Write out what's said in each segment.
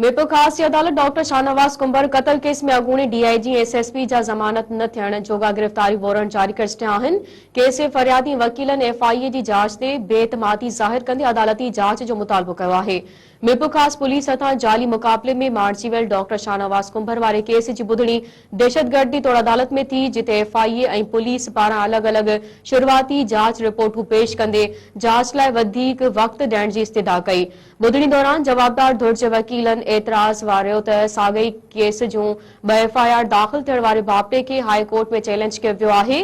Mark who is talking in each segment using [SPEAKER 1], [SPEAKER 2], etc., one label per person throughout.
[SPEAKER 1] ميرپور خاص جي عدالت ڊاڪٽر شاهنواز ڪنڀر قتل ڪيس ۾ اڳوڻي D I G ۽ S S P جا ضمانت نه ٿيڻ جوڳا گرفتاري وارنٽ جاري ڪري ڇڏيا آهن. ڪيس جي فريادي ۽ وڪيلن ايف آء اي جي جاچ تي بي اعتمادي ظاهر ڪندي عدالتي جاچ جو مطالبو ڪيو آهي. ميرپورخاص پوليس هٿان جعلي مقابلي ۾ مارجي ويل ڊاڪٽر شاهنواز ڪنڀر واري ڪيس جي ٻڌڻي دهشتگردي توڙ عدالت ۾ ٿي جتي ايف آء اي ۽ پوليس پاران الڳ الڳ شروعاتي جاچ رپورٽون پيش ڪندي جاچ لاء وڌيڪ وقت ڏيڻ جي استدعا ڪئي ٻڌڻي دوران جوابدار ڌر جي وڪيلن اعتراض واريو ته ساڳئي ڪيس جون ٻه ايف آء آر داخل ٿيڻ واري باپٽي کي هاء ڪورٽ ۾ چئلينج ڪيو ويو آهي،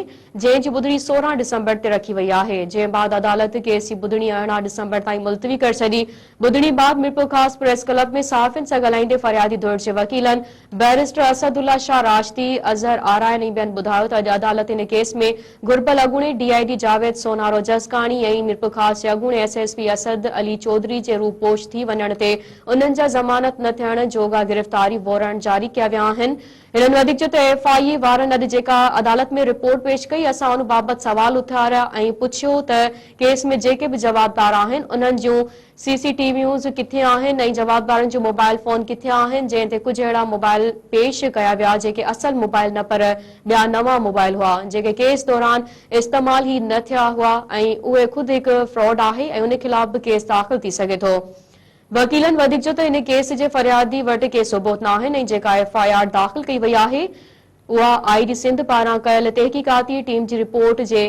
[SPEAKER 1] جنهن جي ٻڌڻي سورهن ڊسمبر تي رکي وئي آهي، جنهن بعد عدالت ڪيس جي ٻڌڻي ارڙهن ڊسمبر تائين ملتوي ڪري ڇڏي. ٻڌڻي بعد ميرپورخاص پريس ڪلب ۾ صحافين سان ڳالهائيندي فريادي ڌر جي وڪيلن بئريسٽر اسد الله شاهه راشدي، اظهر آرائين ۽ ٻين ٻڌايو ته اڄ عدالت ان ڪيس ۾ گهربل اڳوڻي ڊي آء جي جاويد سونهارو جسڪاڻي ۽ ميرپورخاص جي اڳوڻي S S P Asad Ali Chaudhry جي روپوش ٿي وڃڻ تي انهن جا ضمانت نه ٿيڻ جوڳا گرفتاري وورنٽ جاري ڪيا ويا آهن. هنن وڌيڪ چيو ته ايف آء اي وارن اڄ جيڪا عدالت ۾ رپورٽ پيش ڪئي اسان ان بابت سوال اٿاريا ۽ پڇيو ته ڪيس ۾ جيڪي به جوابدار آهن انهن جون سي سي ٽي ويوز ڪٿي آهن ۽ جوابدارن جون موبائل فون ڪٿي آهن جنهن تي ڪجهه اهڙا موبائل پيش ڪيا ويا جيڪي اصل موبائل نه پر ٻيا نوان موبائل هئا جيڪي ڪيس دوران استعمال ئي نه ٿيا هئا ۽ اهي خود هڪ فراڊ آهي ۽ ان خلاف به ڪيس داخل ٿي سگهي ٿو وڪيلن وڌيڪ چيو ته ان ڪيس جي فريادي وٽ ڪي ثبوت ناهن ۽ جيڪا ايف آء آر داخل ڪئي وئي آهي اها آء جي سنڌ پاران ڪيل تحقيقاتي ٽيم جي رپورٽ جي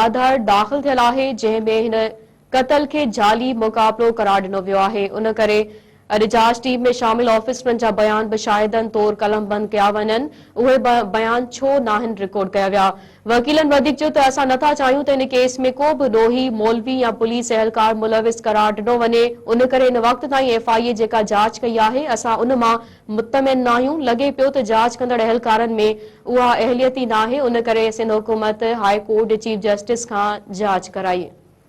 [SPEAKER 1] آڌار داخل ٿيل آهي، جنهن ۾ هن قتل کي جعلي مقابلو قرار ڏنو ويو آهي، ان ڪري اڄ جاچ ٽيم ۾ شامل آفيسرن جا بيان به شاهدن طور قلمبند ڪيا وڃن، اهي بيان ڇو ناهن رڪارڊ ڪيا ويا؟ وڪيلن وڌيڪ چيو ته اسان نٿا چاهيون ته ان ڪيس ۾ ڪو به ڏوهي، مولوي يا پوليس اهلڪار ملوث قرار ڏنو وڃي، ان ڪري ان وقت تائين ايف آء اي جيڪا جاچ ڪئي آهي، اسان ان مان مطمئن ناهيون، لڳي پيو ته جاچ ڪندڙ اهلڪارن ۾ اها اهليت ئي ناهي، ان ڪري سنڌ حڪومت هاء ڪورٽ چيف جسٽس کان جاچ ڪرائي.